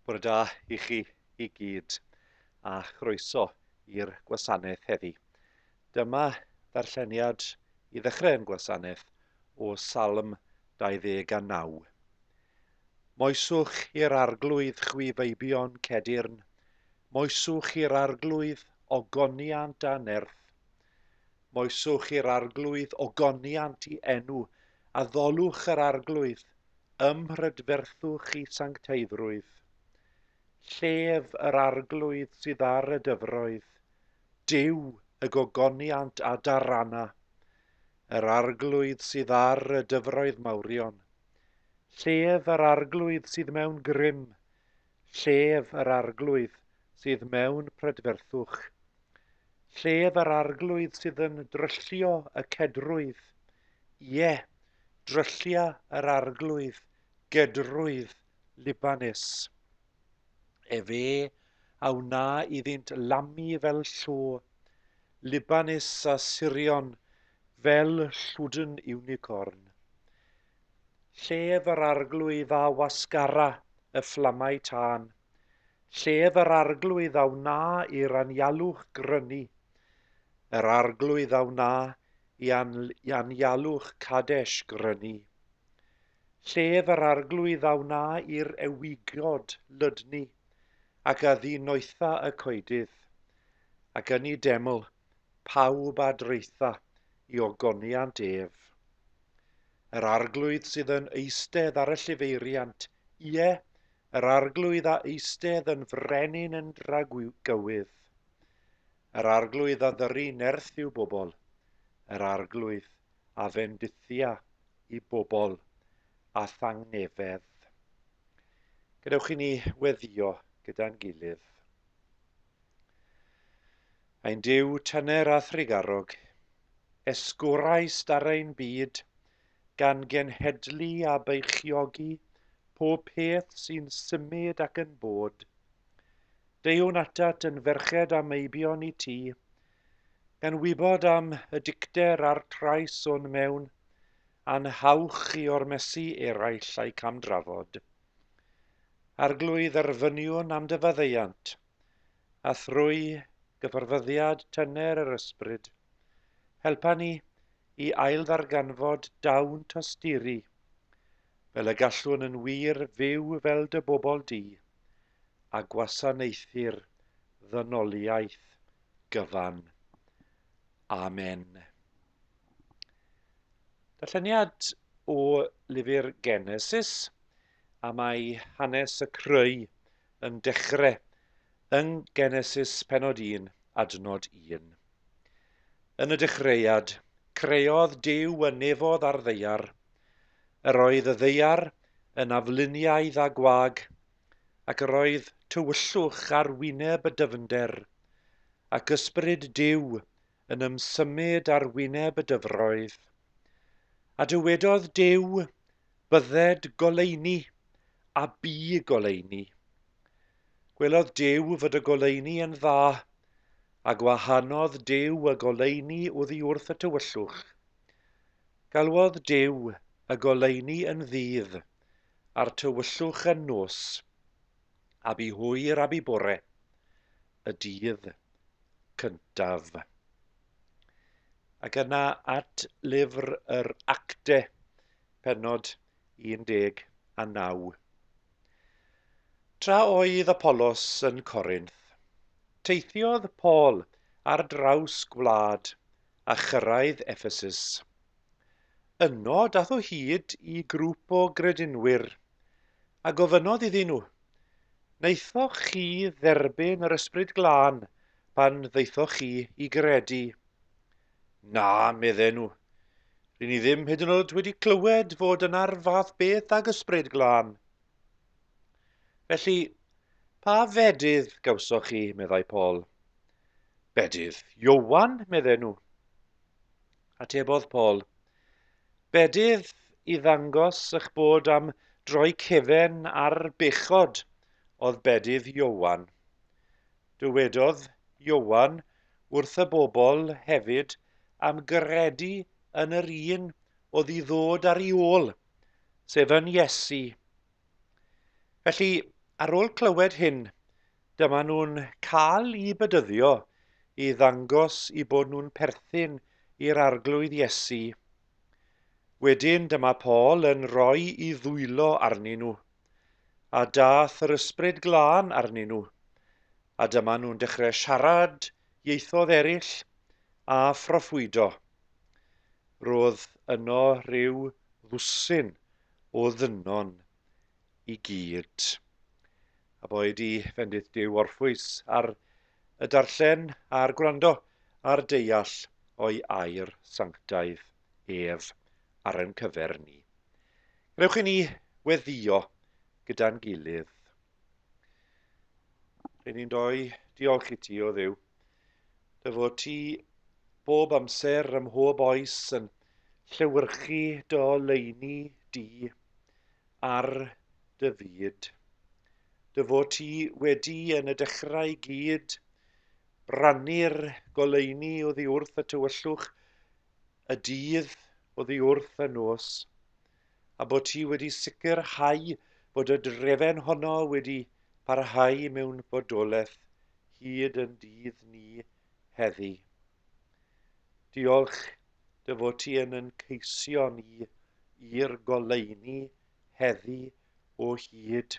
Bore da i chi i gyd a chroeso i'r gwasanaeth heddi. Dyma ddarlleniad i ddechrau yn gwasanaeth o Salm 29. Moeswch i'r Arglwydd chwi feibion Cedyrn, moeswch i'r Arglwydd ogoniant a nerth. Moeswch i'r Arglwydd ogoniant i enw, addolwch yr Arglwydd, ymhrydferthwch i sancteiddrwydd. Llef yr Arglwydd sydd ar y dyfroedd, Duw y gogoniant a darana. Yr Arglwydd sydd ar y dyfroedd mawrion, Llef yr arglwydd sydd mewn grym, llef yr arglwydd sydd mewn prydferthwch. Llef yr arglwydd sydd yn dryllio y cedrwydd, ie, dryllia yr arglwydd gedrwydd Libanus. Efe a wna iddynt lamu fel llo, Libanus a Sirion fel llwdn unicorn. Llef yr arglwydd a wasgara y fflamau tân, Llef yr arglwydd a wna i'r anialwch grynu, Yr arglwydd a wna i anialwch Cadesh grynu. llef yr Arglwydd a wna i'r ewigod lydnu, ac a ddi noetha y coedydd, ac yn y deml pawb a draetha i ogoniant ef. Yr Arglwydd sydd yn eistedd ar y llifeiriant, ie, yr Arglwydd a eistedd yn frenin yn dragywydd. Yr Arglwydd a ddyru nerth i'w bobl, yr Arglwydd a fendithia i bobl â thangnefedd. Gadewch i ni weddio gyda'n gilydd. Ein Duw tyner a thrigarog, esgorau starau'n byd, gan genhedlu a beichiogi pob peth sy'n symud ac yn bod. Deuwn atat yn ferched a meibion i ti, Gan wybod am y dicter a'r trais o'n mewn, a'n hawch i ormesu eraill a'u camdrafod. Arglwydd dderfyniwn am dy faddeuant, a thrwy gyfarfyddiad tyner yr ysbryd, helpa ni i ailddarganfod dawn tosturi, fel y gallwn yn wir fyw fel dy bobl di, a gwasanaethu'r ddynoliaeth gyfan. Amen. Darlleniad o lyfr Genesis a mae hanes y creu yn dechrau yng Genesis penod 1 adnod 1. Yn y dechreuad, creodd Dyw y nefodd a'r ddeiar. Yr oedd y ddeiar yn afluniaidd a gwag Ac yr oedd tywyllwch ar wyneb y dyfnder, ac Ysbryd Duw yn ymsymud ar wyneb y dyfroedd. A dywedodd Duw, Bydded goleuni, a bu goleuni. Gwelodd Duw fod y goleuni yn dda, a gwahanodd Duw y goleuni oddi wrth y tywyllwch. Galwodd Duw y goleuni yn ddydd, A'r tywyllwch yn nos, a bu hwyr a bu bore, y dydd cyntaf. Ac yna at lyfr yr Acte, penod 19. Tra oedd Apollos yn Corinth, teithiodd Paul ar draws gwlad a chyrraedd Ephesus. Yno dath o hyd i grŵp o gredinwyr, a gofynnodd iddyn nhw, Wnaethoch chi dderbyn yr Ysbryd Glân pan ddaethoch chi i gredu? Na, medden nhw. Ry'n ni ddim hyd yn oed wedi clywed fod yna'r fath beth ag Ysbryd Glân. Felly, pa fedydd gawsoch chi, meddai Paul. Bedydd Iowan, medden nhw. Atebodd Paul, Bedydd, i ddangos ych bod am droi cefen ar bechod oedd bedydd Ioan. Dywedodd Ioan wrth y bobl hefyd am gredu yn yr un oedd i ddod ar ei ôl, sef yn Iesu, Felly, ar ôl clywed hyn, dyma nhw'n cael i bedyddio i ddangos i bod nhw'n perthyn i'r Arglwydd Iesu. Wedyn dyma Paul yn rhoi i ddwylo arnyn nhw, a dath yr ysbryd glân arnyn nhw, a dyma nhw'n dechrau siarad ieithoedd eraill a phroffwydo. Roedd yno rhyw ddwsin o ddynon i gyd. A boed i fendith Duw orffwys ar y darllen a'r gwrando a'r deall o'i air sanctaidd ef ar ein cyfer ni. Gwnewch i ni weddio gyda'n gilydd. Rydyn ni'n doi diolch i ti o ddiw Dy fod ti bob amser ym mhob oes yn llewyrchu dy oleuni di ar dy fyd. Dy fod ti wedi yn y dechrau i gyd rannu'r goleuni oddi wrth y tywyllwch, y dydd oddi wrth y nos. a bod ti wedi sicrhau bod y drefen honno wedi parhau mewn bodolaeth hyd yn dydd ni heddi. Diolch dy fod ti yn yn ceisio ni i'r goleuni heddi o hyd.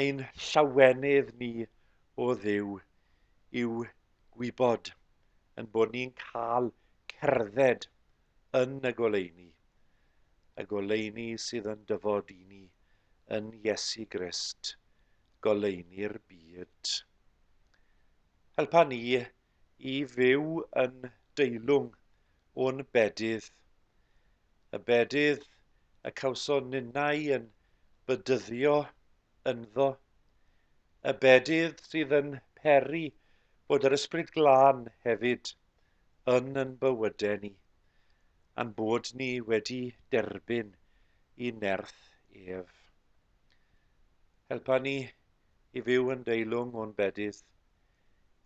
Ein llawenydd ni o ddew yw gwybod yn bod ni'n cael cerdded yn y goleuni, y goleuni sydd yn dyfod i ni yn Iesu Grist, goleuni'r byd. Helpa ni i fyw yn deilwng o'n bedydd, y bedydd y cawson ninnau yn bydyddio ynddo, y bedydd sydd yn peri bod yr Ysbryd Glân hefyd yn yn bywyde ni, a'n bod ni wedi derbyn i nerth ef. Helpa ni i fyw yn deilwng o'n bedydd,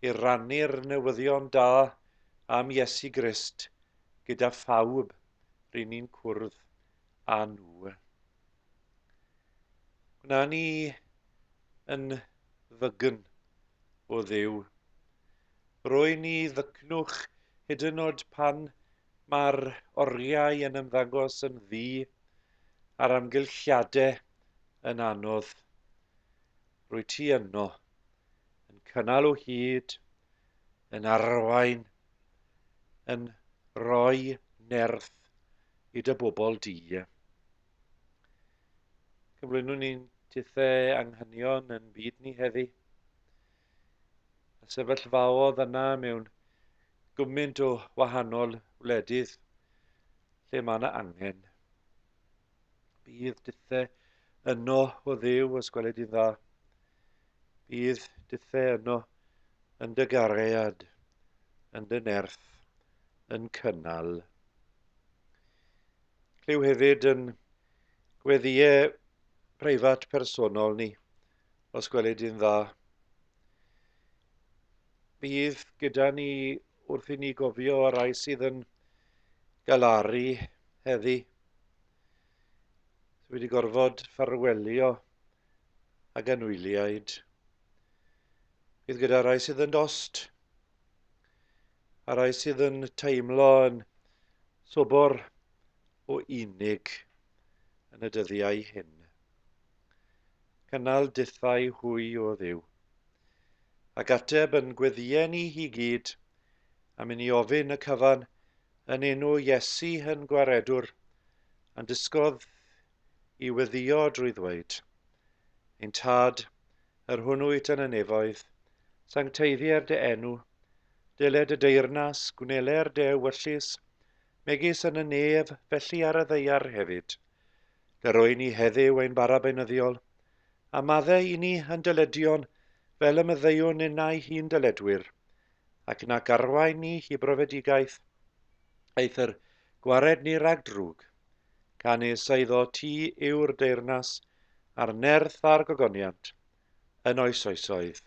i rannu'r newyddion da am Iesu Grist gyda phawb rŷn ni'n cwrdd â nhw. Gwna ni yn ddygn o Dduw, Rwy'n ni ddycnwch hyd yn oed pan mae'r oriau yn ymddangos yn ddu a'r amgylchiade yn anodd. Rwy ti yno, yn cynnal o hyd, yn arwain, yn rhoi nerth i dy bobl di. Cyflwynwn ni'n tithe anghenion yn byd ni heddi. a sefyllfaodd yna mewn gymaint o wahanol wledydd lle mae yna angen. Bydd dithau yno o ddew os gweled i'n dda. Bydd dithau yno yn dy garead, yn dy nerth, yn cynnal. Clyw hefyd yn gweddiau preifat personol ni Os gweli di'n dda. Bydd gyda ni wrth i ni gofio y rai sydd yn galaru heddi. Dwi wedi gorfod ffarwelio ag anwyliaid. Bydd gyda rai sydd yn dost a rai sydd yn teimlo yn sobor o unig yn y dyddiau hyn. Cynnal dithau hwy o Dduw. Ac ateb yn gweddïau ni hi gyd, am i ni ofyn y cyfan, yn enw Iesu hyn gwaredwr, a'n dysgodd i weddio drwy ddweud, Ein Tad, yr hwn wyt yn y nefoedd, sancteiddier dy enw, dyled y deyrnas, gwneler dy ewyllys, megis yn y nef, felly ar y ddeiar hefyd. Yr wy'n ni heddyw ein bara beunyddiol, a madde i ni yn dyledion fel y myddeuwn innau hi'n dyledwyr, ac nac arwain ni hi brofedigaeth, eithr gwared ni rag drwg. Canys eiddo ti yw'r deyrnas, a'r nerth a'r gogoniant, yn oes oesoedd.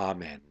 Amen.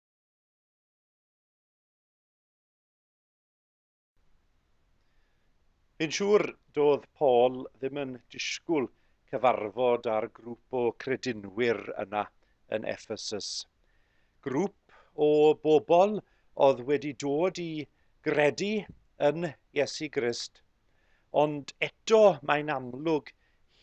Fi'n siŵr doedd Paul ddim yn disgwyl cyfarfod â'r grŵp o credinwyr yna yn Ephesus. Grŵp o bobl oedd wedi dod i gredu yn Iesu Grist Ond eto, mae'n amlwg,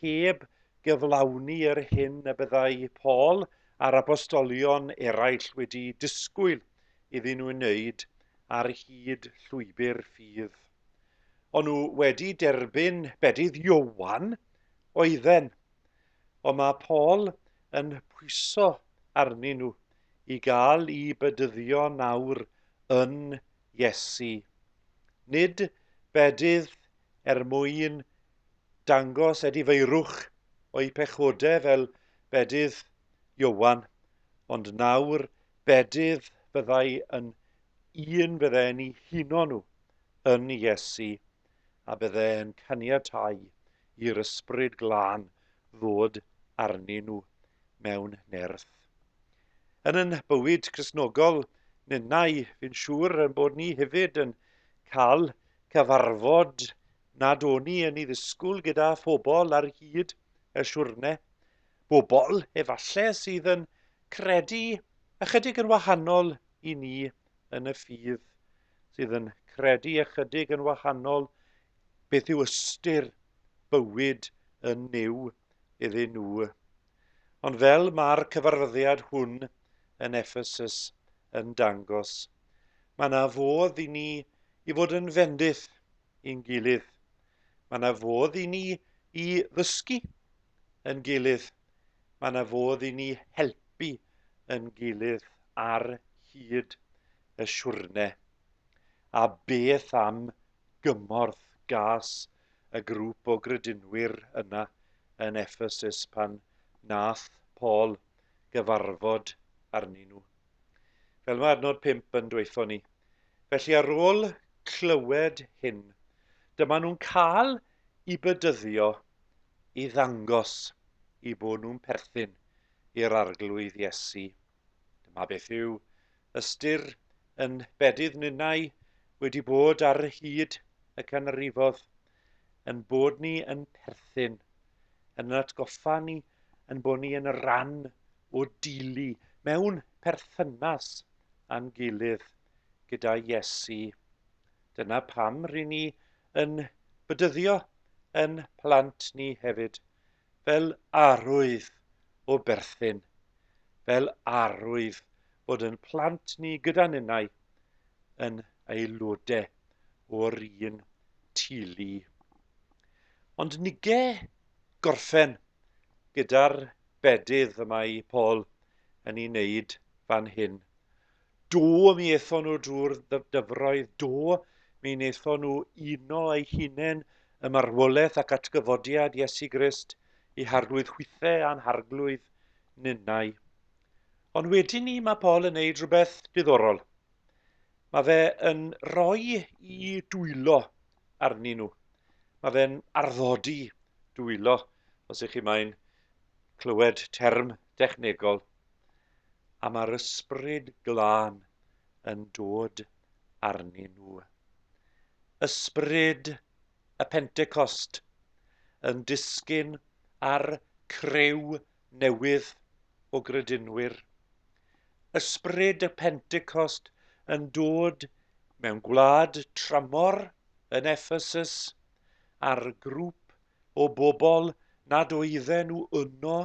heb gyflawni yr hyn y byddai Paul a'r apostolion eraill wedi disgwyl iddyn nhw wneud ar hyd llwybr ffydd. O'n nhw wedi derbyn bedydd Iowan, oedden, ond mae Paul yn pwyso arnyn nhw i gael i bedyddio nawr yn Iesu. Nid bedydd er mwyn dangos edifeirwch o'i pechode fel bedydd Ioan, ond nawr bedydd fyddai yn un fydde'n 'u huno nhw yn Iesu. a byddai'n caniatáu i'r Ysbryd Glân ddod arnyn nhw mewn nerth. Yn yn bywyd Cristnogol ninnau, fi'n siŵr yn bod ni hefyd yn cael cyfarfod nad o'n ni yn ei ddisgwyl gyda phobl ar hyd y siwrne. Bobl, efallai, sydd yn credu ychydig yn wahanol i ni yn y ffydd sydd yn credu ychydig yn wahanol beth yw ystyr bywyd yn Nuw iddyn nhw. Ond fel mae'r cyfarfyddiad hwn yn Ephesus yn dangos, mae yna fodd i ni i fod yn fendith i'n gilydd. Mae yna fodd i ni i ddysgu yn gilydd. Mae yna fodd i ni helpu yn gilydd ar hyd y siwrne. A beth am gymorth gas y grŵp o gredinwyr yna yn Ephesus pan nath Paul gyfarfod arnyn nhw? fel mae adnod 5 yn dweithio ni. Felly ar ôl clywed hyn, dyma nhw'n cael i bydyddio i ddangos i bod nhw'n perthyn i'r arglwydd Iesu. Dyma beth yw ystyr yn bedydd ninnau wedi bod ar hyd y canrifodd. ein bod ni yn perthyn, yn yr atgoffa ni ein bod ni yn ran o deulu mewn perthynas â'n gilydd gyda Iesu. Dyna pam rŷn ni yn bydyddio yn plant ni hefyd, fel arwydd o berthyn, fel arwydd bod yn plant ni gyda ninnau yn aelodau o'r un teulu. Ond nige gorffen gyda'r bedydd y mae Paul yn ei wneud fan hyn. Do, mi ethon nhw drwy'r dyfroedd, do, mi wnaethon nhw uno eu hunain ym marwolaeth ac atgyfodiad Iesu Grist, eu harglwydd hwythau a'n harglwydd ninnau. Ond wedyn ni mae Paul yn neud rhywbeth diddorol. Mae fe yn rhoi i dwylo arnyn nhw. Mae fe'n arddodi dwylo, os ych chi mae'n clywed term dechnegol. a mae'r Ysbryd Glân yn dod arnyn nhw. Ysbryd y Pentecost yn disgyn ar criw newydd o gredinwyr. Ysbryd y Pentecost yn dod mewn gwlad tramor yn Ephesus ar grŵp o bobl nad oedden nhw yno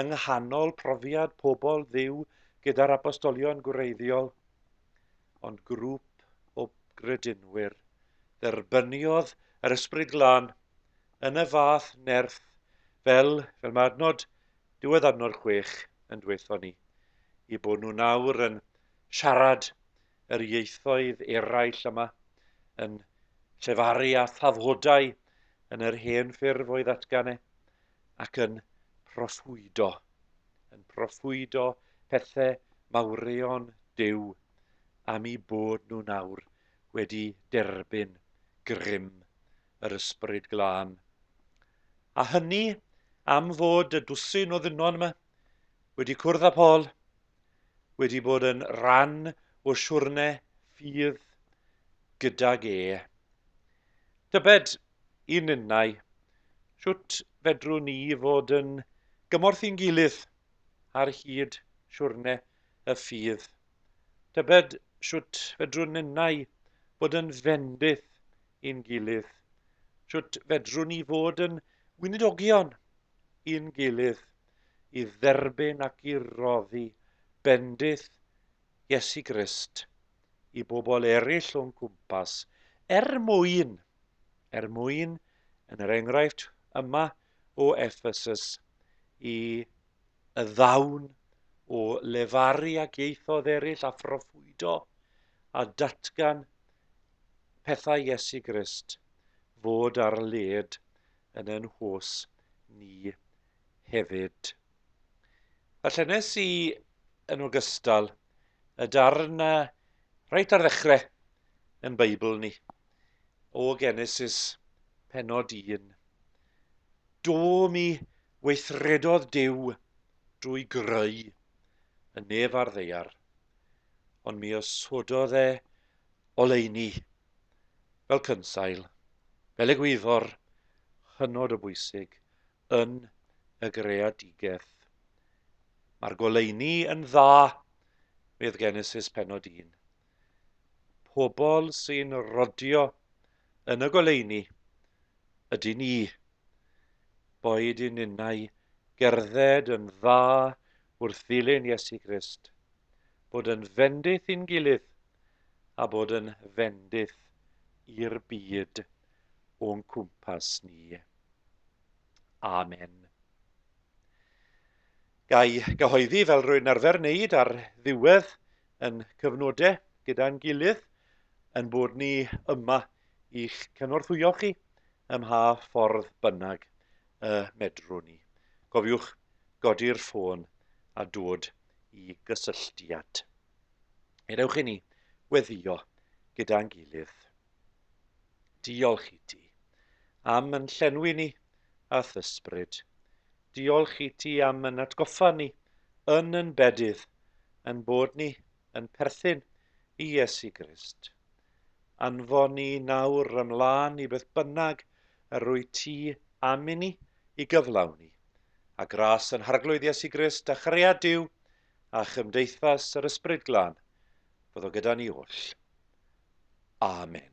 yng nghanol profiad pobl Dduw gyda'r apostolion gwreiddiol, ond grŵp o gredinwyr. Dderbyniodd yr Ysbryd Glân yn y fath nerth fel, fel mae adnod diwedd adnod chwech yn dweutho ni, i bod nhw nawr yn siarad yr ieithoedd eraill yma, yn llefaru a thafhodau yn yr hen ffurf o'i ddatgan e, ac yn proffwydo, yn proffwydo pethau mawrion Duw am i bod nhw nawr wedi derbyn grym yr Ysbryd Glân. A hynny am fod y dwsin o ddynon yma, Wedi cwrdd â Paul, wedi bod yn rhan o siwrne ffydd gydag e. Tybed, i ninnau, sut fedrwn ni fod yn gymorth i'n gilydd ar hyd siwrne y ffydd? Tybed sut fedrwn ninnau fod yn fendith i'n gilydd? Sut fedrwn ni fod yn weinidogion i'n gilydd i dderbyn ac i roddi bendith Iesu Grist i bobl eraill o'n cwmpas, er mwyn, er mwyn, yn yr enghraifft yma o Ephesus, i y ddawn o lefaru ac ieithoedd eraill a phroffwydo a datgan pethau Iesu Grist fod ar led yn ein hws ni hefyd. A llennes i yn ogystal y darn na reit ar ddechrau yn Beibl ni, o Genesis penod 1. Do mi weithredodd Dyw drwy greu y nef a'r ddeiar, ond mi osododd e oleuni fel cynsail, fel egwyddor hynod o bwysig yn y greadigaeth. Mae'r goleuni yn dda, medd Genesis penod 1. Pobl sy'n rodio yn y goleuni ydy ni, boed i ninnau gerdded yn dda wrth ddilyn Iesu Grist, bod yn fendith i'n gilydd, a bod yn fendith i'r byd o'n cwmpas ni. Amen. Gai gyhoeddi fel rwy'n arfer wneud ar ddiwedd yn cyfnodau gyda'n gilydd, yn bod ni yma i'ch cynorthwyo chi ym mha ffordd bynnag y medrwn ni. Cofiwch godi'r ffôn a dod i gysylltiad. Ewch i ni weddio gyda'n gilydd. Diolch i ti am yn llenwi ni a thysbryd. Diolch i ti am yn atgoffa ni yn yn bedydd yn bod ni yn perthyn i Iesu Grist. Anfon ni nawr ymlaen i beth bynnag yr rwy ti am i ni i gyflawni, a gras yn harglwydd Iesu Grist a chariad Dyw a chymdeithas yr Ysbryd Glân fod o gyda ni oll. Amen.